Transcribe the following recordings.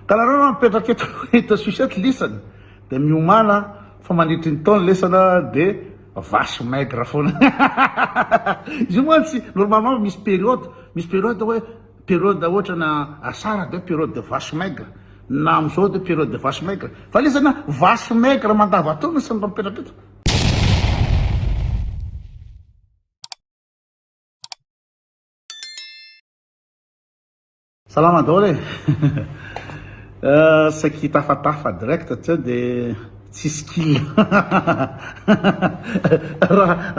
Ka nareo raha mipetraka eto eto sucette lisany de miomana fa mandritry ny taona lesana de vache maigre foana izy io mantsy normalement misy periode misy periode hoe periode ohatrana asara de periode de vache maigre na amizao de periode de vache maigre fa lisana vache maigre mandavataona isany raha mipetraka eto. Salama daholo e! Saiky tafatafa direct tsy eo de tsisy kill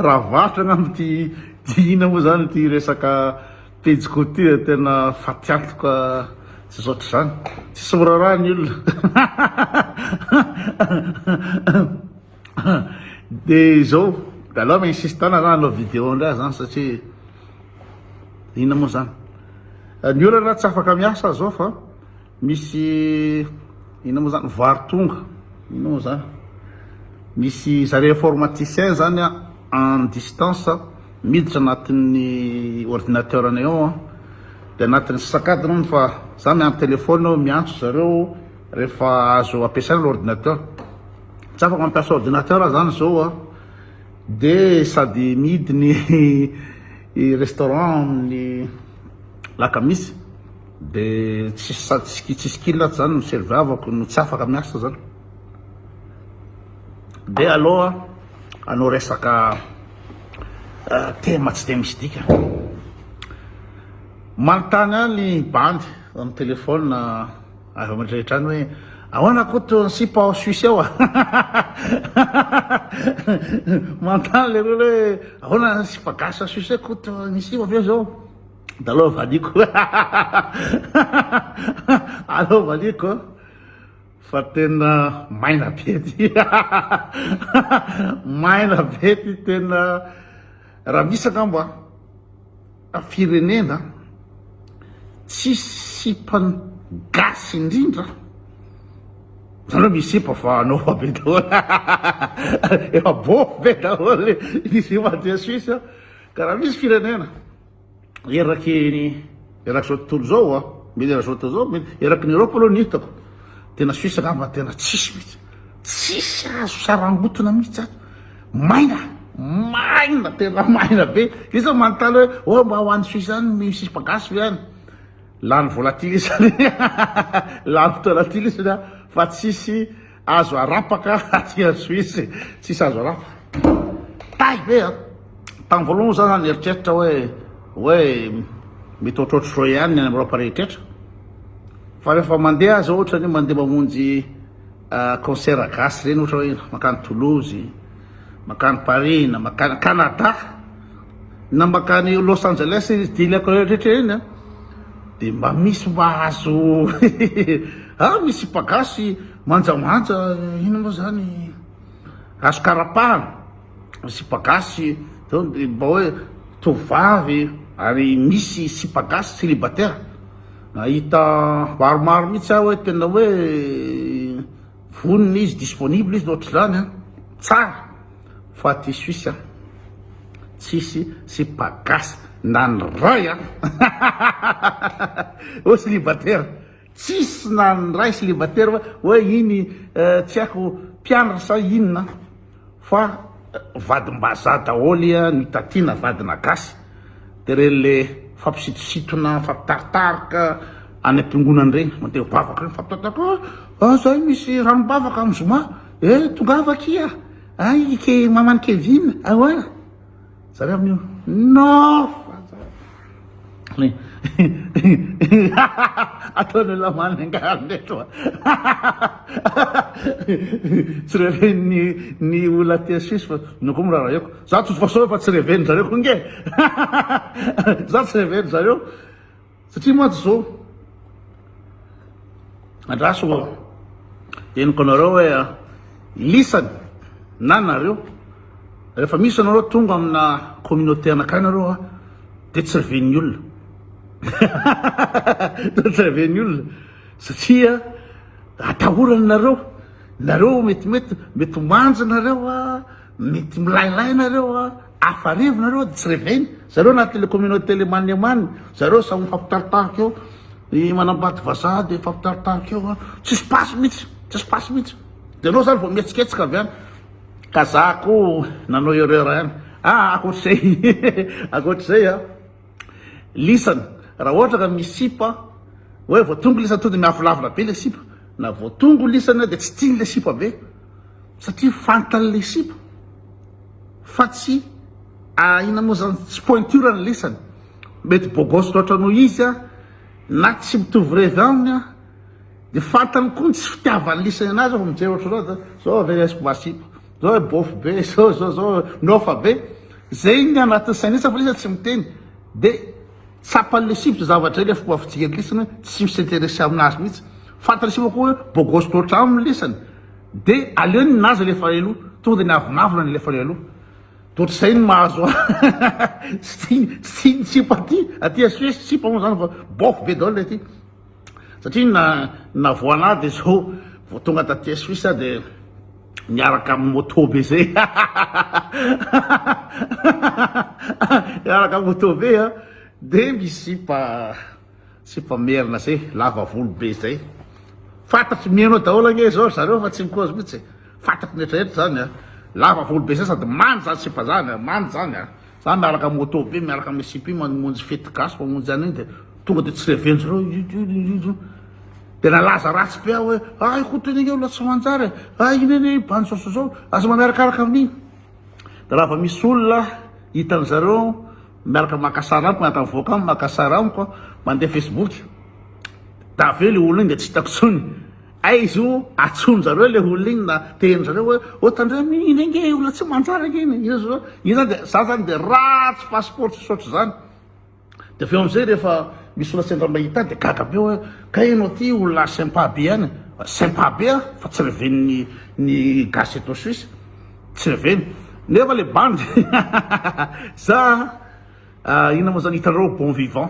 raha varotra angamba ty ty ina moa zany ty resaka pejy ko ty tena fatiantoka tsy zotra zany tsisy miraharaha ny olona Dia izao, dia aleo mi insiste na hanao vidéo indray aza an, satria inona moa izany. Ny olana tsy afaka miasa aza zao fa misy inona moa izany, vary tonga, inona moa izany. Misy zareo informaticien zany an, en distance, miditra anatin'ny ordinateur-nay ao an, dia anatin'ny sasakadiny hono fa za mi en téléphone miantso zareo rehefa azo ampiasaina ilay ordinateur. Tsy afaka mampiasa ordinateur aho zany zao a, de sady mihidy ny restaurant amin'ny lakamisy de tsisy sady ski tsisy kila ato zany no serviavako no tsy afaka miasa zany, de aleo a hanao resaka tema tsy de misy dikany, manontany ahy ny bandy amin'ny telephone. Ary vao mandray hatrany hoe ahoana Koto ny sipa ao Suisse ao a? Manontany le olona hoe ahoana ny sipa gasy ao Suisse Koto ny sipa ve zao? Da aleo valiko. Aleo valiko fa tena maina be ty. Maina be ty tena raha misy angamba. firenena tsisy sipany gasy indrindra nareo misy sipa fa anao efa be daholo efa bofy be daholo ny sipan'ity suisse ka raha misy firenena eraky ny erak'izao tontolo izao mety erak'izao tontolo izao mety eraky ny Europe aloha ny hitako tena suisse angamba tena tsisy mihitsy Tsisy azo sarangotona mihitsy zany. Maina, maina tena maina be. Iza manontany hoe oh mba ho any Suisse any misy sipa gasy ve any? Lany volatile isany. Lany fotoana tily isany a fa tsisy azo arapaka aty any Suisse. Tsisy azo arapaka. Tay be a. Tamin'ny voalohany za zany nieritreritra hoe hoe mety ohatrohatry zao ihany ny any Europe rehetra. Fa rehefa mandeha aza ohatra ny mandeha mamonjy Concert gasy ireny ohatra hoe mankany Toulouse, mankany Paris na mankany Canada na mankany Los Angeles izy deal akao rehetra ireny an dia mba misy mba azo ah misy sipa gasy manjamanja inona moa izany azo karapahana. sipa gasy zao mba hoe tovovavy ary misy sipa gasy célibataire nahita maromaro mihitsy aho hoe tena hoe vonona izy disponible izy ohatr'izany an tsara fa aty suisse an tsisy sipa gasy na ny ray an oa célibataire Tsisy na ny ray célibataire fa hoe iny tsy haiko mpianatra sa inona fa vadim-bazaha daholo no tatiana vadina gasy de reny le fampisitositona fampitaritaroka any am-piangonana reny mandeha mivavaka reny mifampitantara ah zay misy ranom-bavaka amin'ny zoma eh tongava akia ay ke maman'i kevina ahoana. Zany aminy io. Nofa zany. Ataon'ny lamany angaha reto. Tsy reven'ny ny olona aty Suisse fa no koa miraraheko. Za tsy voasaoy fa tsy reven'ny zareo koa nge. Za tsy reven'ny zareo. Satria mantsy zao, andraso henoko anareo hoe lisany na nareo rehefa misy anareo tonga amina communauté anakay nareo a de tsy reven'ny olona de tsy reven'ny olona satria atahorany nareo nareo metimety mety manjy nareo a Mety milailay nareo a! Afa arivo nareo de tsy reveiny. Zareo anaty le communauté le manemane, zareo samy mifampitaritarika eo. Ny manambady vazaha de mifampitaritarika eo a! Tsisy passe mihitsy, tsisy passe mihitsy. De anao zany vao mihetsiketsika avy any. Ka za ko nanao erreur ihany. Ah akoatr'izay, akoatr'izay a! lisany raha ohatra ka misy sipa hoe voatongo lisany tonga dia miavolavona be ilay sipa na voatongo lisany dia tsy tiany ilay sipa be satria fantany ilay sipa fa tsy inona moa izany tsy pointure ny lisany mety beau gosse loatra noho izy a na tsy mitovy revy aminy a dia fantany koa ny tsy fitiavany lisany anazy aho mijery ohatranao dia zao avy aizako mba sipa Zao e bôfy be zao zao zao nôfa be ze igny agnatin'ny sainy izy fa izy tsy miteny de tsapany le sivy zavatra le fomba fijery ny lisany hoe tsy mi s'intéresser aminazy mihitsy fantany sivy koa hoe bôgôsy loatra aminy ny lisany de aleony ny nazy alefa aloha tonga de ny avonavona ny alefany aloha de ohatr'izay ny mahazo ahy tsy tiany tsy tiany sipa aty aty à Suisse sipa moa zany fa bôfy be daholo le aty Satria na navoana ahy de zao vao tonga taty Suisse aho de niaraka amin'ny moto be zay niaraka moto be a de misy sipa sipa merina zay lava volo be zay fantatry mino daholo ange zao zareo fa tsy mikozy mihitsy fantatry ny retraretra zany a lava volo be zay sady manja zany sipa zany a manja zany a Za miaraka moto be miaraka am SIP mamonjy fety gasy mamonjy an'iny de tonga de tsy revenjy reo io de nalaza ratsy be aho hoe ah i koto iny olona tsy manjary e ah iny anie bandy zao sy zao aza manarakaraka amin'iny de raha vao misy olona hitan'ny zareo miaraka maka sary amiko miaraka mivoaka amiko maka sary amiko mandeha facebook de avy eo le olona iny de tsy hitako tsony Aiza o? Atsoninjareo ilay olona iny na teninjareo hoe ô tandremo iny iny ange olona tsy manjary ange iny, io zao io zany dia za zany dia ratsy passeport tsisy ohatr'izany. Dia avy eo amin'izay rehefa misy olona sendra mahita ahy dia gaga be hoe kay ianao ity olona sympa be ihany, sympa be aho fa tsy reven'ny ny gasy eto Suisse, tsy reveny nefa ilay bandy za inona moa zany hitanareo bon vivant.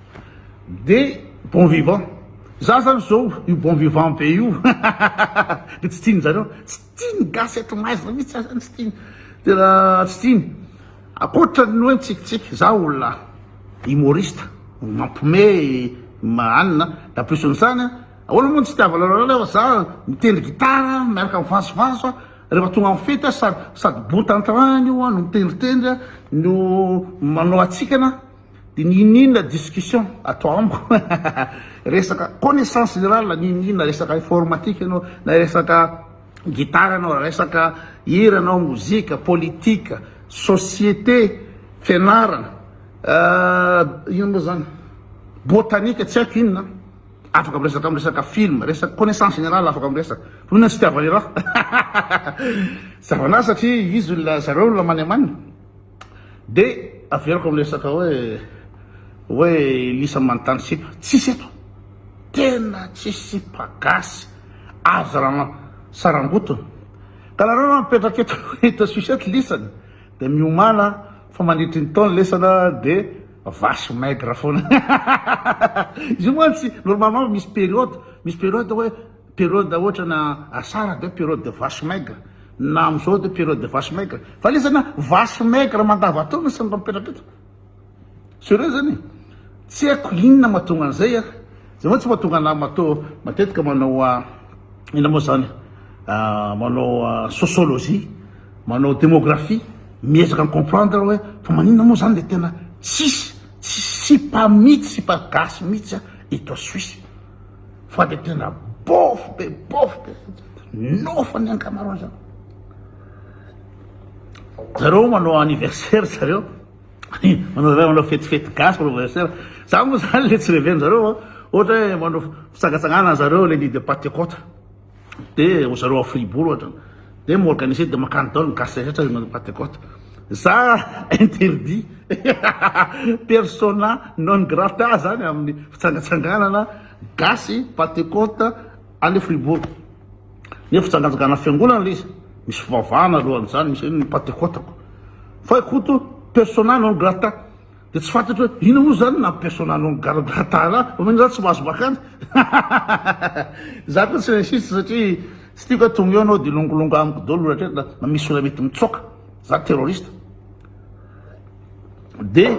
de bon vivant za zany zao io bon vivant be io de tsy tiany zareo tsy tiany gasy eto maizina mitsy za zany tsy tiany tena tsy tiany akoatrany hoe mitsikitsiky za olona humoriste mampime mahanina da plus an'izany ahoana moa ny tsy tiavanareo nefa za mitendry gitara miaraka amin'ny vazovazo a rehefa tonga amin'ny fety a sady sady bon tanterahina io a no mitendritendry a no manao hatsikana Dia ny ininona discussion atao amiko resaka connaissance générale ny ininona resaka informatique ianao na resaka gitara ianao resaka hira ianao mozika politika société fianarana euh, ino moa zany botanika tsy haiko inona afaka miresaka miresaka film resaka connaissance générale afaka miresaka inona tsy tiavan'irah zavana satria izy olona zareo olona maniamanina Dia averiko amin'ny resaka hoe hoe Elisa manontany sipa. Tsisy eto. Tena tsisy sipa gasy azo zarana sarangotiny. Ka nareo raha mipetraka eto hita sucette lisany dia miomana fa mandritry ny taona lesana dia vache maigre foana. Izy io mantsy normalement misy période, misy période hoe Période ohatrana asara dia période de vache maigre na amizao dia période de vache maigre fa le zany vache maigre mandavataona sy ny raha mipetraka eto sereo zany e tsy haiko inona mahatonga an'izay a zay moa tsy mahatonga anah mato matetika manao a inona moa zany manao sociologie manao démographie miezaka ny comprendre hoe fa maninona moa zany le tena tsisy tsisy sipa mihitsy sipa gasy mihitsy a eto a Suisse Fa dia tena bôfy be bôfy be nôfa ny ankamaroany zany. Zareo manao anniversaire zareo manao zareo manao fetifety gasy manao anniversaire za moa zany le tsy reven'ny zareo ohatra hoe manao fitsagatsagana zareo le lit de patekota de ry zareo à fribourg ohatra de mi organiser de makany daoly ny gasy rehetra rehefa manao patecote za interdit persona non grata zany aminy fitsangatsanganana gasy patecote any fribourg nefa fitsangatsangana fiangonana le izy misy fivavahana alohan'izany misy hoe ny patecote ko fa i koto persona non grata Dia tsy fantatro hoe inona moa izany na persona non gargata ra fa mino za tsy mahazo makany za koa tsy raciste satria tsy tiako hoe tonga eo anao dia hilongolongo amiko dolo rehetra na misy olona mety mitsoaka za terroriste dia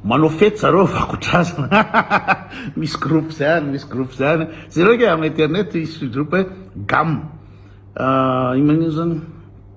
manao fety zareo vakotrazana misy groupe zany misy groupe zany zay reka amin'ny internet hisy groupe gamme ah, ino manino zany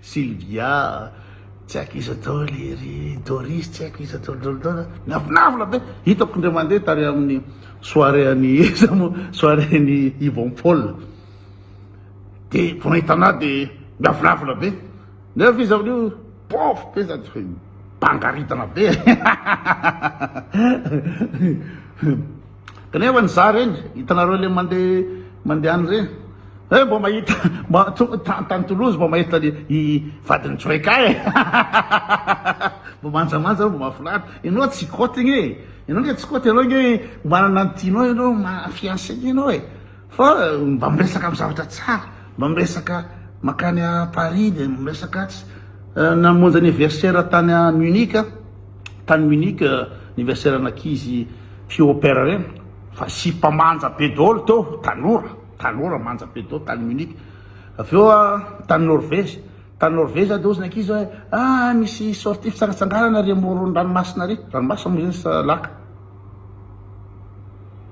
Sylvia, Tsy haiko iza daholo ery, Doris, Tsy haiko iza daholo daholo daholo a! Miavonavona be! Hitako indray mandeha tary amin'ny soirée an'i iza moa, soirée an'i Yvon Paul, dia vao nahita an'ahy dia miavonavona be, nefa izy amin'io pauvre be sady hoe mibangaritana be e! Kanefa ny za reny hitanareo le mande mandehany reny eh mba mahita mba tonga tany Toulouse mba mahita le i vadin'i Joeka eh mba manjamanja aho mba mahafinaritra ianao tsy kotigny eh ianao nge tsy koty ianao nge manana ny tianao ianao mahafiancé ianao eh Fa mba miresaka am zavatra tsara, mba miresaka makany a Paris de miresaka atsy, namonjy anniversaire tany a Munich aho, tany Munich anniversaire an'ankizy Pio Opera reny, fa sipa manja be daholo teo, tanora, tanora manja be daholo tany Munich, avy eo aho tany Norvège, tany Norvège aho de hozy ny ankizy hoe, ah misy sortie fitsangatsanganana ary amoron'ny ranomasina ary, ranomasina moa zay sa laka.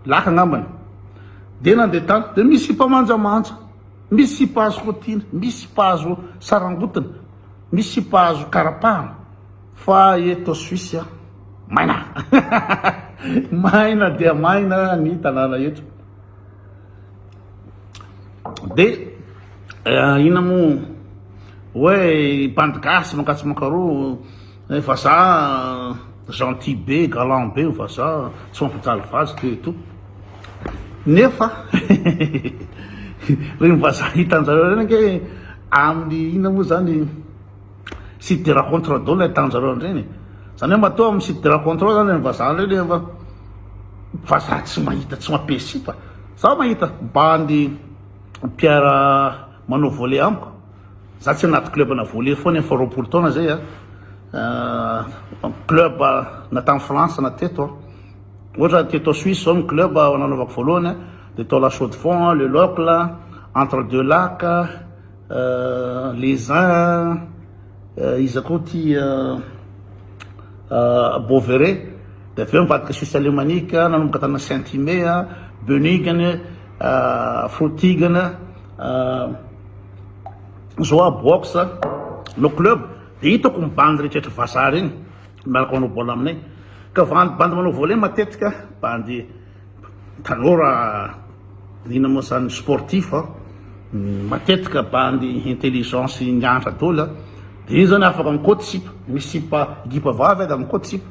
Laka angambany. Dia nandeha tany. Dia misy sipa manjamanja. Misy sipa azo rotiana. Misy sipa azo sarangotina. Misy sipa azo karapahana. Fa eto Suisse, maina. maina dia maina ny tanàna eto. Dia eh, ina moa hoe bandy gasy mankatsimankaroa Eh vazaha gentil be, galant be io vazaha, tsy mampijaly vazo ity eto. Nefa reny vazaha hitanjareo reny ange amin'ny inona moa zany site de rencontre daholo no ahitanjareo an'ireny e. Zany hoe matoa amin'ny site de rencontre ao zany reny vazaha reny nefa vazaha tsy mahita, tsy mampiesy sipa. Za mahita bandy mpiara manao volley amiko. Za tsy anaty club ana volley foana efa roapolo taona zay a club na tany France na teto a ohatra teto Suisse zao ny club nanaovako voalohany a de tao la chaux de fonds le locle entre deux lacs les uns iza koa ty Beauveret de avy eo nivadika Suisse alemanique nanomboka tana Saint Ime a Böningen Frutigen Zao a box no club de hitako ny bandy rehetra vazaha reny miaraka manao bol aminay ka vandy bandy manao volet matetika bandy tanora ina moa zany sportif a matetika bandy intelligence ny antra dola de iny zany afaka mikoty sipa misy sipa gipa vavy ada mikoty sipa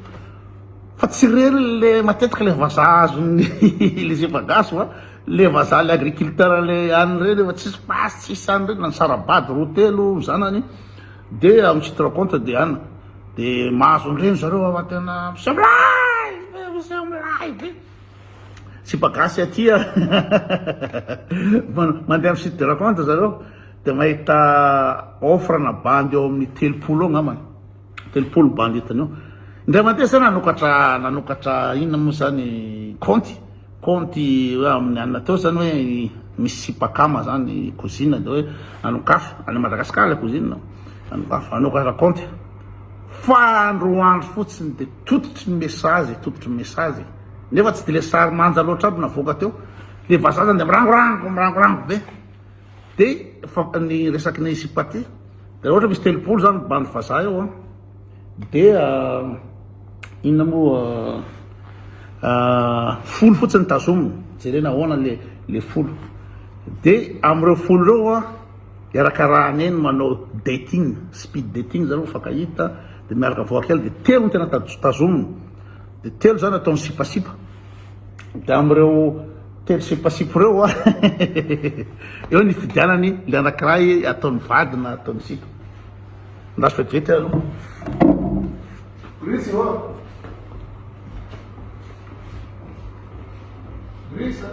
fa tsy reny le matetika le vazaha azon'ny le sipa gasy fa Le vazaha le agriculteur le any reny efa tsisy pasy tsisy any reny nisarabady roa telo ny zanany de on se rend compte de any de mahazo an'ireny zareo awa tena miseo milay be miseo milay be sipa gasy aty a mandeha am site de rencontre zareo de mahita offre na bandy eo amin'ny telopolo eo angambany Telopolo bandy hitany eo. Indray mandeha zay nanokatra nanokatra inona moa zany kaonty kaonty hoe amin'ny anona teo zany hoe misy sipakama zany kozina de hoe nanokafo any Madagasikara ilay kozina nanokafo nanokatra kaonty fa andro andro fotsiny de tototry ny mesazy tototry ny mesazy nefa tsy de le sary manja loatra aby navoaka teo le vazaha zany de mirangorango mirangorango be Dia ny resaky ny sipaty, dia raha ohatra misy telopolo izany bandy vazaha eo an, dia inona moa folo fotsiny tazomina, jerena ahoana ilay folo, dia amin'ireo folo ireo an, iarakarahana eny manao dating, speed dating izany hoe mifankahita, dia miaraka voakely, dia telo no tena tazomina, dia telo izany ataony sipasipa. dia amin'ireo telo sipasipo ireo a eo ny fidianany ny anankiray ataony vady na ataony sipa andraso vetivety aloha Gris ô Gris a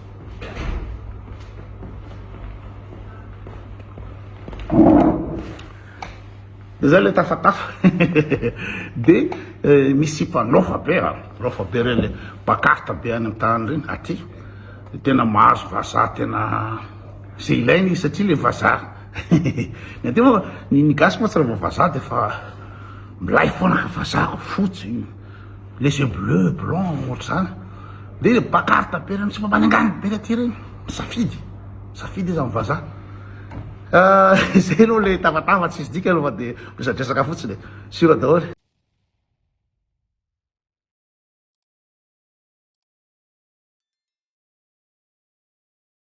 de zay le tafatafa de eh, misipa lofa be a ah, lofa be reny le pakarta be any tany reny aty tena mahazo vazaha tena ze ilaina izy satria le vazaha ny aty moa ny gasy moa tsy raha vazaha de fa milay foana fazahako fotsy Laissez bleu, blanc, ohatr'izany. Dia le pancarte be ireny sy mampanenganina be aty ireny, misafidy, misafidy izy amin'ny vazaha. Izay aloha le tavatava tsisy dika aloha fa dia miresadresaka fotsiny e, sûr daholo.